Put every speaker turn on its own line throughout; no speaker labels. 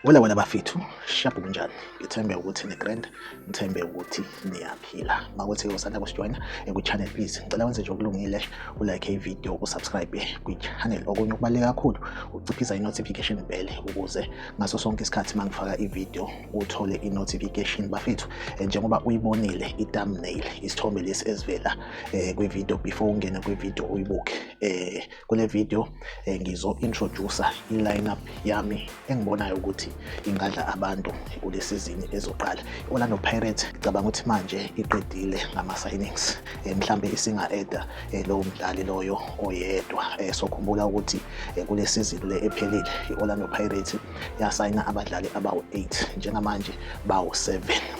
Wala
wala bafethu shabu kunjani ngithembe ukuthi ni grand ngithembe ukuthi niyaphila makuthi usanda kusijoyina eku channel please ngicela wenze nje okulungile u like i video u subscribe kwi channel okunye okubaleka kakhulu uciphisa i notification bell ukuze ngaso sonke isikhathi mangifaka i video uthole i-notification bafethu eh, njengoba uyibonile i-thumbnail isithombe lesi esivela eh, kwi-video before ungene kwi-video uyibuke eh, kule video eh, ngizo-introducer i-lineup yami engibonayo ukuthi ingadla abantu kule sizini ezoqala i-orlando pirates cabanga ukuthi manje iqedile ngama-signings eh, mhlambe isinga-eda eh, lowo mdlali loyo oyedwa eh, sokhumbula ukuthi eh, kule sizini le ephelile i-orlando pirates yasayina abadlali abawu-8 njengamanje bawu-7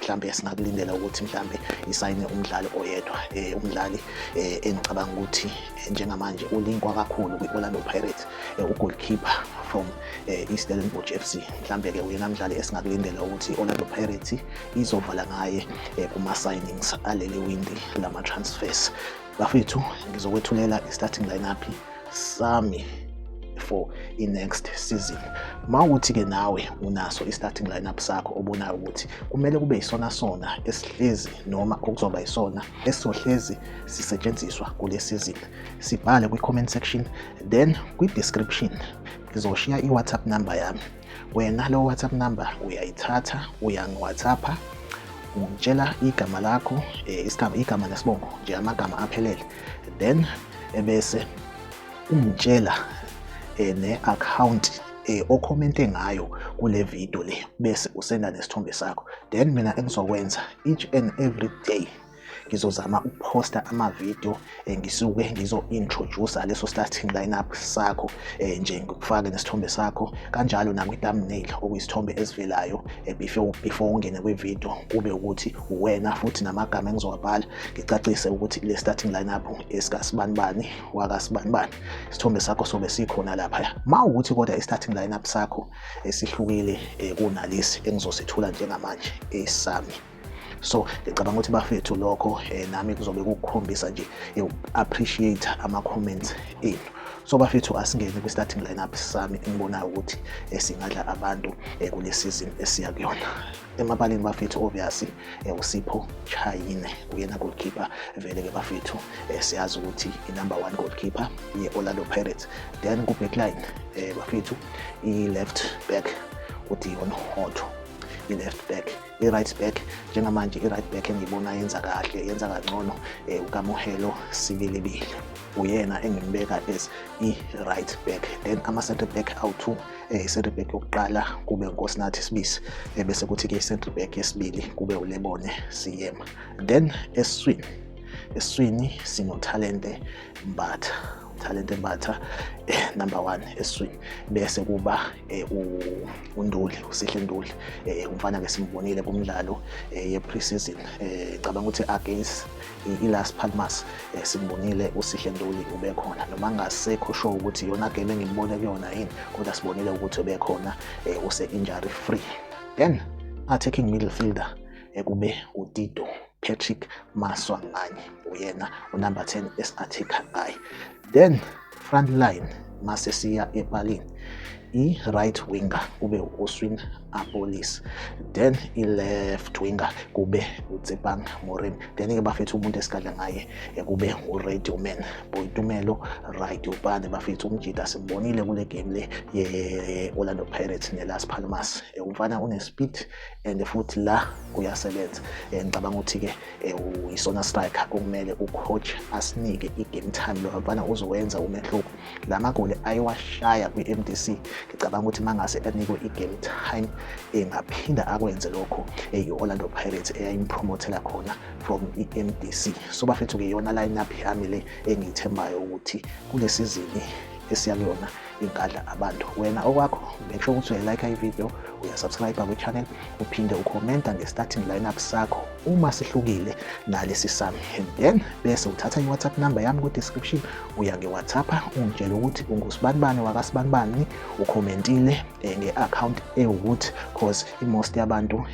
mhlambe singakulindela ukuthi mhlambe isayine umdlali oyedwa eh, umdlali eh, engicabanga ukuthi eh, njengamanje ulinkwa kakhulu kwi-orlando pirates eh, ugoalkeeper from eh, istellenbosch f c mhlambe-ke uyena mdlali esingakulindela ukuthi i-orlando pirates izovala ngaye eh, kuma-signings aleli windi lama-transfers bafethu ngizokwethulela i-starting lineup sami for i-next season ma ukuthi ke nawe unaso i-starting lineup sakho obonayo ukuthi kumele kube isona sona esihlezi noma okuzoba isona esizohlezi sisetshenziswa kule season sibhale kwi-comment section then kwi-description ngizoshiya i-whatsapp number yami Wena ngalo WhatsApp number uyayithatha uyangiwhatsappa ungitshela igama lakho eh, isigaba igama nesibongo nje amagama aphelele then ebese ungitshela eh, ne-account eh, okhomente ngayo kule video le bese usenda nesithombe sakho then mina engizokwenza each and every day ngizozama ukuposta amavidiyo um eh, ngisuke ngizo-introduce leso starting lineup sakho um nje ngikufake nesithombe sakho kanjalo nakwi-thumbnail okuyisithombe esivelayo um before, before ungene kwividiyo kube ukuthi uwena futhi namagama engizowabhala ngicacise ukuthi le starting lineup esikasibanibani wakasibanibani isithombe sakho sobe sikhona laphaya ma ukuthi kodwa i-starting lineup sakho esihlukile um kunalesi engizosithula njengamanje esami so ngicabanga ukuthi bafethu lokho eh, nami kuzobe kukukhombisa nje eh, appreciate ama comments enu so bafethu asingene kwi starting lineup sami engibonayo ukuthi eh, singadla abantu eh, kule season esiya kuyona emabaleni bafethu obviously eh, usipho chayine uyena goalkeeper vele ke bafethu eh, siyazi ukuthi i number 1 goalkeeper ye Orlando Pirates then ku backline eh, bafethu i left back uDion Hotto i left back i-right back njengamanje i-right back engiyibona yenza kahle yenza kangcono um ukamuhelo sibilibili uyena engimbeka as i-right back then ama-centre back awu-two um i-centre back yokuqala kube nkosinathi sibisi um bese kuthi-ke i-centre back yesibili kube ulebone siyema then eswini eswini sinothalente mbatha Thalente Mbatha eh, number one eswini bese kuba eh, uNduli uSihle Nduli eh, umfana ke simbonile kumdlalo eh, ye pre-season eh, cabanga ukuthi against iLas Palmas eh, simbonile uSihle Nduli ubekhona noma ngasekho sho ukuthi yona game engimbone kuyona yini kodwa sibonile ukuthi ubekhona eh, use injury free then attacking middle fielder ekube eh, uTito Patrick Maswanganyi uyena unumber 10 esingathikha ngaye then front line mase siya epalini i-right winger kube u-oswin apolis then i-left winger kube utsepang morim then-ke bafethu umuntu esikadla ngaye eh, kube u-radio man boyitumelo right ubane bafethu umjida simbonile kule game le ye-orlando pirates ne-las palmas eh, umfana une-speed and futhi la kuyasebenza eh, ngicabanga ukuthi-ke eh, uyisona striker okumele ucoach asinike i-game time lo mfana uzowenza umehluko la magoli ayewashaya kwi-m d c ngicabanga ukuthi mangase anikwe i-game time engaphinda eh, akwenze lokho i-orlando pirates eyayimpromothela khona from i-m d c so bafethu-ke yona line up yami le engiyithembayo ukuthi kule sizini esiya kuyona ingadla abantu wena okwakho make sure ukuthi uyayilike ivideo uyasubscribe kwichannel uphinde ukhomenta nge-starting lineup sakho uma sihlukile nalesi sami and then bese uthatha i-whatsapp number yami kwi-description uya nge-whatsapp ungitshela ukuthi ungusibani-bani wakasibani-bani ukhomentile eh, nge-account ewukuthi cause i-most yabantu um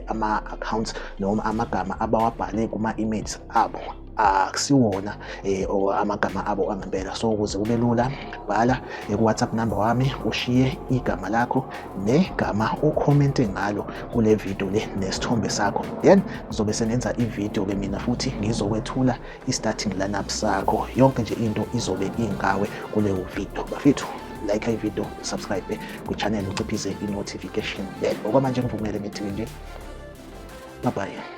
ama-accounts noma amagama abawabhale kuma-emails abo akusiwona eh, or amagama abo angempela so ukuze kube lula bhala ku-whatsapp number wami ushiye igama lakho negama okhomente ngalo kule video le nesithombe sakho then ngizobe sengenza ivideo ke mina futhi ngizokwethula i-starting lineup sakho yonke nje into izobe ingawe kuleyo video bafethu like ivideo subscribe kwichannel uciphise i-notification bell okwamanje ngivumele ngithi nje bye bye